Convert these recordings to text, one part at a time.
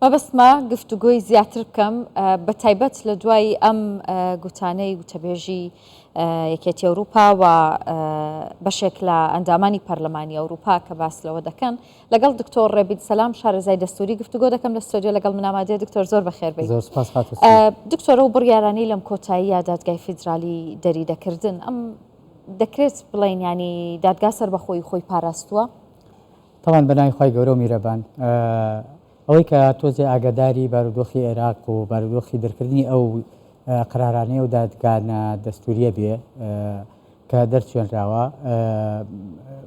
مەبەستمە گفتوگۆی زیاتر بکەم بە تایبەت لە دوای ئەم گوتانەی وتەبێژی یەکێتی ئەوروپا و بەشێک لە ئەندامانی پەرلەمانی ئەوروپا کە باس لەوە دەکەن لەگەڵ دکتۆر ڕێبیت سەسلام شارەزای دەستوری گفتوگۆ دەکەم لە ستۆدیۆ لەگەڵ منامادێ دکتۆر زۆر بەخێربی دکتۆرە و بڕیارانی لەم کۆتایی دادگای فیدرالی دەری دەکردن ئەم دەکرێت بڵێن ینی دادگا سەر بەخۆی خۆی پاراستووە تاوان بە ناوی خوای گەورە و میرەبان. ئەوەی کە تۆزێ ئاگەداری بارودۆخی عێراق و بارودۆخی دەرکردنی ئەو قەرارانەی ئەو دادگا نا دەستوورییە بێ کە دەرچوێنراوە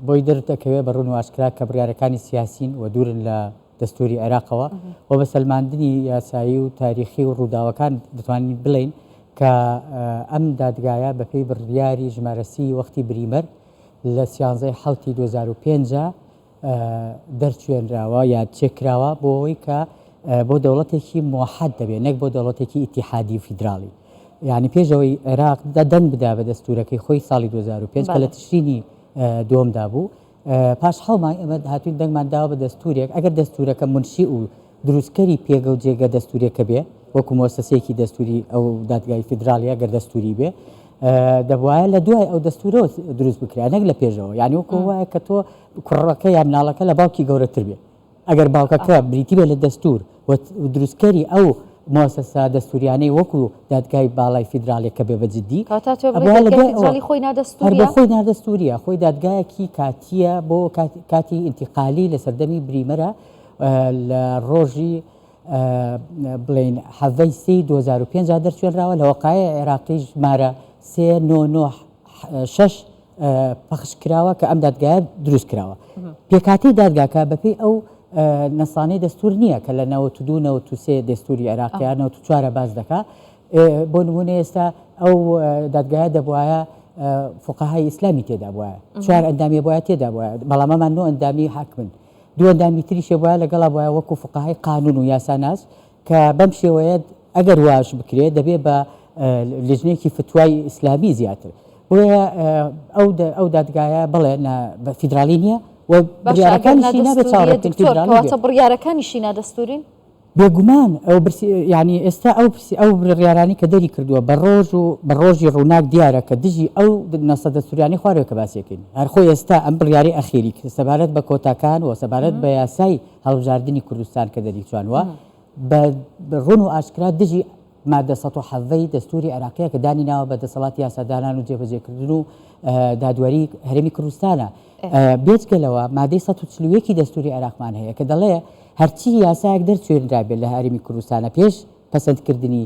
بۆی دەردەکەوێ بە ڕوون و ئاشکرا کە بڕیارەکانی سیاسین و دوورن لە دەستووری عێراقەوە و بە سەلماندنی یاسایی و تاریخی و ڕووداوەکان دەتوانین بڵین کە ئەم دادگایە بەپێی بڕیاری ژمارەسی وەختی بریمەر لە سیانزەی حەوتی دوو هەزار و پێنج دەرچوێنراوە یا چێکراوە بۆ ئەوەی کە بۆ دەوڵەتێکی موحد دەبێت نەک بۆ دەوڵەتێکی ئیتیحادی و فیدراڵی یعنی پێشەوەی عێراق دەنگ بدا بە دەستورەکەی خۆی ساڵی 2005 کە لە تشرینی دووەمدا بوو پاش حەڵمان ئەمە هاتوین دەنگمان داوە بە دەستورێک ئەگەر دەستورەکە منشی و دروستکەری پێگە و جێگە دەستووریەکە بێ وەکو مۆسەسەیەکی دەستووری ئەو دادگای فیدراڵیە گەر دەستووری بێ دەبواە لە دوای ئەو دەستورەوە دروست بکرێت نەک لە پێشەوە یعنی وەکو وایە کە تۆ کوڕەکە یا مناڵەکە لە باوکی گەورەتر بێت ئەگەر باوکەکە بریتی بێت لە دەستور و دروستکەری ئەو مۆسەسا دەستوریانەی وەکو دادگای باڵای فیدراالێکە بێ بەجددی خۆی نادەستوریە خۆی دادگایەکی کاتیە بۆ کاتی ئینتیقالی لە سەردەمی بریمەرە لە ڕۆژی بڵین حەڤەی سی 2005 دەرچێنراوە لە وەقاعی عێراقی ژمارە سێ نۆ نۆ شەش پەخش کراوە کە ئەم دادگایە دروست کراوە پێکاتی دادگاکە بەپی ئەو نەسانەی دەستور نییە کە لە نەوە تو دوو نەوە تو سێ دەستوری عێراقیان نەوە تو چوارە باز دەکا بۆ نمونە ئێستا ئەو دادگایە دەبواە فقهای ئیسلامی تێدا بواە چوار ئەندامی بواە تێدا بواە بەڵامەمان نۆ ئەندامی حاکمن دوو ئەندامی تریشێ بوایە لەگەڵا بوایە وەکو فوقەهای قانون و یاساناس کە بەم شێوەیە ئەگەر واش بکرێ دەبێ بە لژنێکی فتوای ئیسلامی زیاتر بۆیە ئەو ئەو دادگایە بڵێ بە فیدراالی نییە و بڕیارەکانی بڕیارەکانی شینا دەستورین بێگومان ئەو برسی یانی ئێستا ئەو پرسی ئەو بڕیارانی کە دەری کردووە بە ڕۆژ و بە ڕۆژی ڕووناک دیارە کە دژی ئەو نەسەدە سوریانی خوارەوە کە باسیەکەین هەرخۆ ئێستا ئەم بڕیاری ئەخیری سەبارەت بە کۆتاکان و سەبارەت بە یاسای هەڵبژاردننی کوردستان کە دەریچوانوە بە ڕون و ئاشکرا دژی ماددە سەد و حەڤە ی دەستووری عێراقیە کە دانی ناوە بە دەسەڵاتی یاسادانان و جێبەجێکردن و دادوەری هەرێمی کوردستانە. بێجگە لەوە مادەی سەد و چل و یەک ی دەستووری عێراقمان هەیە کە دەڵێ هەرچی یاسایەک دەرچوێنرابێت لە هەرێمی کوردستانە پێش پەسەندکردنی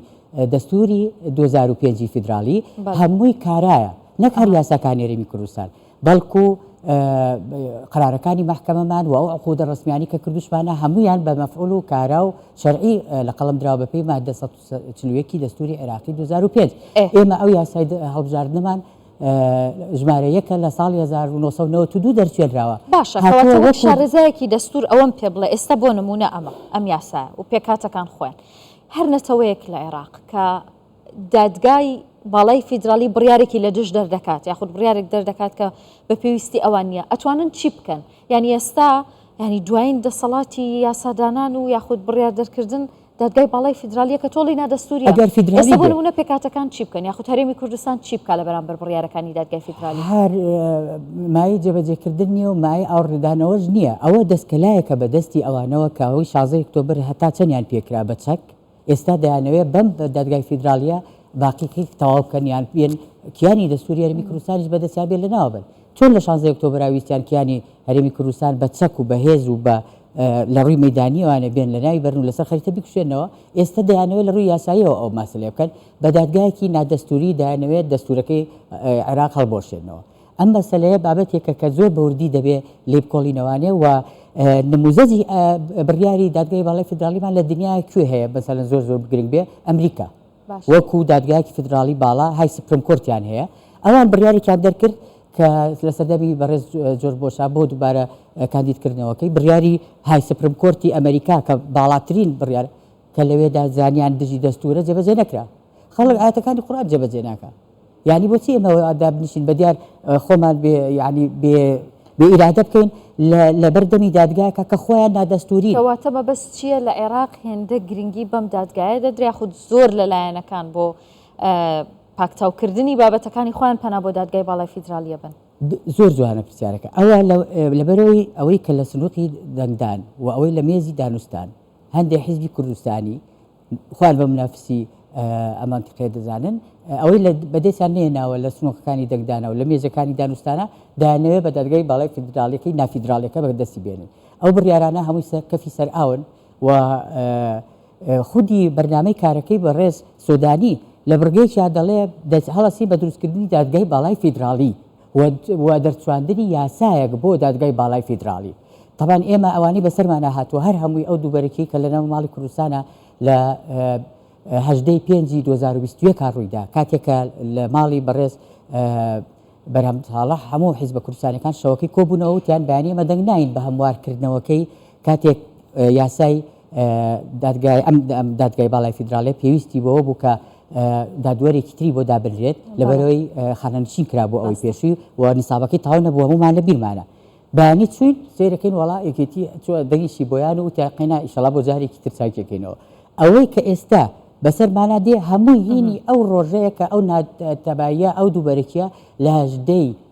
دەستووری دوو هەزار و پێنج ی فیدراڵی هەمووی کارایە نەک هەر یاساکانی هەرێمی کوردستان. بەڵکو قەرارەکانی مەحکەمەمان و ئەو عقودە ڕەسمیانی کە کردوشمانە هەمویان بە مەفعول و کارا و شەرعی لە قەڵەم دراوە بە پێی ماددە سەد و چل و یەک ی دەستوری عێراقی دوو هەزار و پێنج ئێمە ئەو یاسای هەڵبژاردنمان ژمارە یەکە لە ساڵی هەزار و نۆ سەد و نەوەد و دوو دەرچێنراوە باشە کەواتە وەک شارەزایەکی دەستور ئەوەم پێ بڵێ ئێستا بۆ نمونە ئەمە ئەم یاسایە و پێکهاتەکان خۆیان هەر نەتەوەیەک لە عێراق کە دادگای باڵای فیدراڵی بڕیارێکی لە دژ دەردەکات یاخود بڕیارێک دەردەکات کە بە پێویستی ئەوان نییە ئەتوانن چی بکەن یعنی ئێستا ینی دوایین دەسەڵاتی یاسادانان و یاخود بڕیار دەرکردن دادگای باڵای فیدراالیە کە تۆڵی نادەستوری ئەگەر فیدرالی بۆ نە پێکاتەکان چی بکەن یاخود هەرێمی کوردستان چی بکە لە بەرامبەر بڕارەکانی دادگای فیدرالی هەر مای جێبەجێکردن نیە و مای ئاوڕدانەوەش نییە ئەوە دەستکەلایەکە بە دەستی ئەوانەوە کەەوەی شازەی کتۆبەر هەتا چەندیان پێکرا بە چەک ئێستا دەیانەوێت بەم دادگای فیدراڵیە باقیکەی تەواو بکەن یان بێن کیانی دەستوری هەرمی کوردستانیش بەدەستیان بێت لەناوە بن چۆن لە شانزەی ئۆکتۆبرا ویستیان کیانی هەرێمی کوردستان بە چەک و بەهێز و بە لە ڕووی مەدانیوانە بێن لە ناوی بەرن و لەسەر خەریتە بکوشێنەوە ئێستا دەیانەوە لە ڕووی یاساییەوە ئەو ماسلێ بکەن بە دادگایەکی نادەستوری دایانەوێت دەستورەکەی عێراق هەڵبۆشێنەوە ئەم مەسەلەیە بابەتێکە کە زۆر بەوردی دەبێ لێی بکۆڵینەوانێ و نموزەجی بڕیاری دادگای باڵی فدراڵیمان لە دنیا کوێ هەیە بەسەلەن زۆر زۆر بگرنگ بێ ئەمریکا وەکو دادگایکی فدراڵی باڵا های سپرم کۆرتیان هەیە ئەوان بڕیارێکیان دەرکرد کە لە سەردەمی بەڕێز جۆر بۆشا بۆ دووبارە کاندیدکردنەوەکەی بڕیاری های سپرم کۆرتی ئەمریکا کە باڵاترین بڕیار کە لەوێدا زانیان دژی دەستورە جێبەجێ نەکرا خەڵک ئاەتەکانی قورآن جێبەجێ ناکە یعنی بۆچی ئێمە دابنیشین بە دیار خۆمان بێ یعنی بێ بێ ئیرادە بکەین لە بەردەمی دادگایەکە کە خۆیان نادەستوری کەواتە مەبەس چییە لە عێراق هێندە گرنگی بەم دادگایە دەدرێ خود زۆر لە لایەنەکان بۆ پاکتاوکردنی بابەتەکانی خۆیان پەنا بۆ دادگای باڵای فیدراالیە بن زۆر جوانە پرسیارەکە ئەوە لەبەرەوەی ئەوەی کە لە سنووقی دەنگدان و ئەوەی لە مێزی دانوستان هەندێ حیزبی کوردستانی خۆیان بە منافسی ئە مەنتقەیە دەزانن، ئەوەی لە بەدەستیان نەهێناوە لە سنووقەکانی دەنگدانە و لە مێزەکانی دانوستانە، دەیانەوێ بە دادگای باڵای فیدراڵییەکەی نافیدراڵییەکە بە دەستی بێنن. ئەو بڕیارانە هەمووی سەر کەفی سەرئاون و خودی بەرنامەی کارەکەی بەڕێز سۆدانی لە بڕگەیەکیا دەڵێ، دەستهەڵەسی بە دروستکردنی دادگای باڵای فیدراڵی. و دەرچواندنی یاسایەک بۆ دادگای باڵای فیدراڵی تەبان ئێمە ئەوانەی بەسەرمانە هاتووە هەر هەمووی ئەو دووبەرەکی کە لەناو ماڵی کوردستانە لە هەژدەی پێنجی 2020 کار ڕوویدا کاتێکە لە ماڵی بەڕێز بەرهەم تاڵە هەموو حیز بە کوردستانەکان شەوەکەی کۆبوونەوە وتیان بەیانی ئەمە دەنگ ناین بە هەموارکردنەوەکەی کاتێک یاسای دادگای ئەم دادگای باڵای فیدراڵێ پێویستی بەوە بوو کە دادوەرێکی تری بۆ دابنرێت لەبەرەوەی خانەنشین کرا بۆ ئەوەی پێشوی و نیسابەکەی تاو نەبوو هەمومان لە بیرمانە بەیانی چوین سیرەکەین وڵا یەکێتی چوە دەنگیشی بۆیان و تیا قینا ئیشەڵا بۆ جارێکی تر چاکێکەکەینەوە ئەوەی کە ئێستا بەسەر مانا دێ هەمووی هینی ئەو ڕۆژەیە کە ئەو ناتەبایە ئەو دووبەرەکیە لە هەژدەی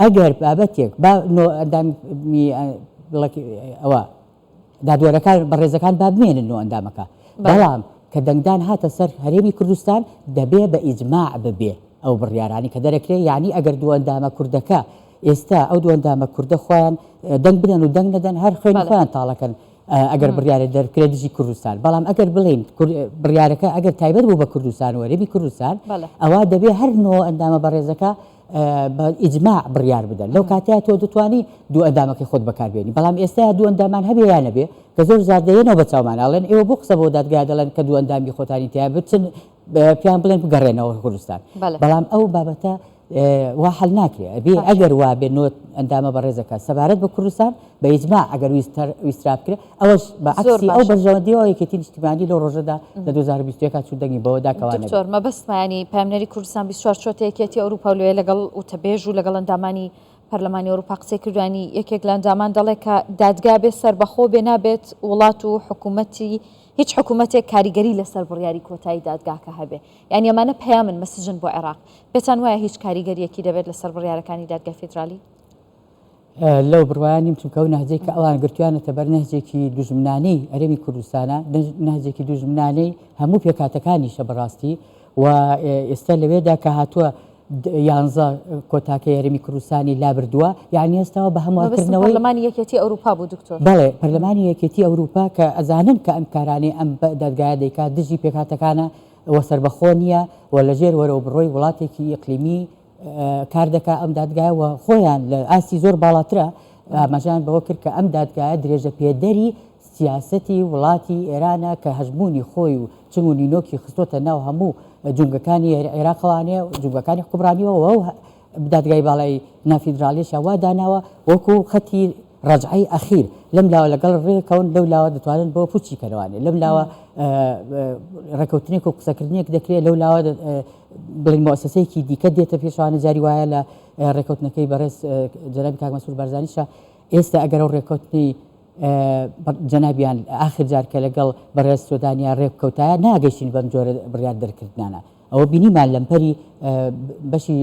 ئەگەر بابەتێک با نۆ ئەندامی ئەوە دادوەرەکان بەڕێزەکان با بمێنن نۆ ئەندامەکە بەڵام کە دەنگدان هاتە سەر هەرێمی کوردستان دەبێ بە ئیجماع ببێ ئەو بڕیارانی کە دەرەکرێ یعنی ئەگەر دووەندامە کوردەکە ئێستا ئەو دووەندامە کوردە خۆیان دەنگ بدەن و دەنگ نەدەن هەر خوێن خۆیان تاڵەکەن ئەگەر بڕیارە دەرکرێ دژی کوردستان بەڵام ئەگەر بڵین بڕیارەکە ئەگەر تایبەت بوو بە کوردستان وەرەبی کوردستان ئەوە دەبێ هەر نۆ ئەندامە بەڕێزەکە بە ئیجماع بڕیار بدەن لەو کاتەیە تۆ دەتوانی دوو ئەندامەکەی خۆت بەکاربێنی بەڵام ئێستا دوو ئەندامان هەبێ یا نەبێ کە زۆر زار دێنەوە بە چاومان ئەڵێن ئێوە بۆ قسە بۆ دادگا دەڵێن کە دوو ئەندامی خۆتانی تیا بچن پیان بڵێن بگەڕێنەوە کوردستان بەڵام ئەو بابەتە وا حل ناکرێ ئەبێ ئەگەر وا بێ نۆت ئەندامە بەڕێزەکە سەبارەت بە کوردستان بە ئیجماع ئەگەر ویستر ویسترا بکرێ ئەوەش بە زۆر عەکسی ئەو باشە بەرژەوەندیەوە یەکێتی نیشتیمانی لەو ڕۆژەدا لە دوو هەزار و بیست و یەک هات چوو دەنگی بەوەدا کەوا نەبێ دکتۆر مەبەستمانی پایمنەری کوردستان بیست و چوار چوەتە یەکێتی ئەوروپا و لۆیە لەگەڵ وتەبێژ و لەگەڵ ئەندامانی پەرلەمانی ئەوروپا قسەی کردو ینی یەکێک لە ئەندامان دەڵێ کە دادگا بێ سەربەخۆ بێ نابێت وڵات و حکومەتی هیچ حکومەتێک کاریگەری لەسەر بڕیاری کۆتایی دادگاکە هەبێ یانی ئەمانە پەیامن مەسجن بۆ عێراق پێتان وایە هیچ کاریگەریەکی دەبێت لەسەر بڕیارەکانی دادگای فیدرالی؟ لەو بڕوایە نیم چونکە ئەو نەهجەی کە ئەوان گرتویانەتە بەر نەهجێکی دوژمنانەی ئەرێمی کوردستانە نەهجێکی دوژمنانەی هەموو پێکاتەکانیشە بەڕاستی و ئێستا لەوێدا کە هاتووە یانزە کۆتاکە یاریمی کوردستانی لابردووە یعنی ئێستاەوە بە هەمووکردنەوە لەمانی یەکێتی ئەوروپا بوو دکتۆر بڵێ پەرلەمانی یەکێتی ئەوروپا کە ئەزانن کە ئەم کارانی ئەم دەرگایە دەیکات دژی پێکاتەکانە وە سربەخۆ نییە و لەژێر وەرەوە بڕۆی وڵاتێکی ئەقلیمی کار دەکات، ئەم دادگایە و خۆیان لە ئاستی زۆر باڵاترە، ئاماژەیان بەوە کرد کە ئەم دادگایە درێژەپێدەری سیاسەتی وڵاتی ئێرانە کە هەژموونی خۆی و چنگ و نینۆکی خستۆتە ناو هەموو جومگەکانی عێراقەوانێ جومگەکانی حکومڕانیەوە و ئەو دادگای باڵای نافیدراڵیشیان وا داناوە وەکو خەتی ڕەجعەی ئەخیر لەم لاوە لەگەڵ ڕێکەون لەو لاوە دەتوانن بۆ پوچی کەنەوانێ لەم لاوە ڕێکەوتنێک و قسەکردنێک دەکرێت لەو لاوە بڵێین مۆسەسەیەکی دیکە دێتە پێشەوانە جاری وایە لە ڕێکەوتنەکەی بەڕێز جەنابی کاک مەسرور بارزانیشە ئێستا ئەگەر ئەو ڕێکەوتنی جەنابیان ئاخر جار کە لەگەڵ بەڕێز سۆدانیا ڕێبکەوتایە ناگەشتین بەم جۆرە بڕیار دەرکردانە ئەوە بینیمان لەمپەری بەشی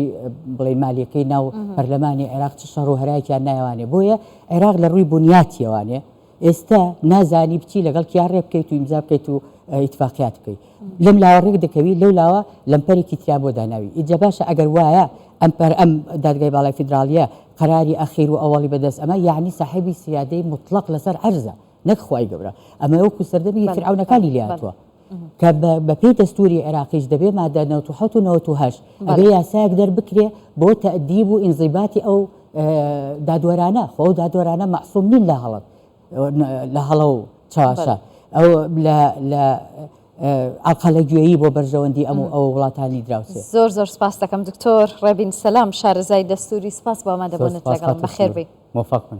بڵێ مالیەکەی ناو پەرلەمانی عێراق چ شەڕ و هەرایکیان نایوانێ بۆیە عێراق لە ڕووی بنیاتیەوانێ ئێستا نازانی بچی لەگەڵ کیا ڕێ بکەیت و ئیمزا بکەیت و ئیتفاقیات بکەیت لەم لاوە ڕێک دەکەوی لەو لاوە لەمپەرێکی تریا بۆ داناوی ئیجا باشە ئەگەر وایە ئەم پەر ئەم دادگای باڵای فیدراالیە قەراری ئەخیر و ئەوەڵی بەدەست ئەمە یعنی ساحبی سیادەی مطلق لەسەر عەرزە نەک خوای گەورە ئەمە وەکو سەردەمی فرعونەکانی لاتوە کە بە پێی دەستووری عێراقیش دەبێ مادە نەوەد و حەوت و نەوەد و هەشت ئەبێ بەڵێ یاسایەک دەربکرێ بۆ تەئدیب و ئینزیباتی ئەو ئە دادوەرانە خۆ ئەو دادوەرانە مەعسووم نین لە هەڵە ئەو نە لە هەڵە و چەواشە بەڵێ ئەو لە لە ئە ئەڵقەلە گوێیی بۆ بەرژەوەندی ئەم و ئەو وڵاتانی دراوسێ. زۆر زۆر سپاس دەکەم دکتۆر ڕێبین سەلام شارەزای دەستووری سپاس بۆ زۆر ئامادەبوونت سپاس لەگەڵم خاتوو بەخێر سنوور بێی. مۆفەق بن.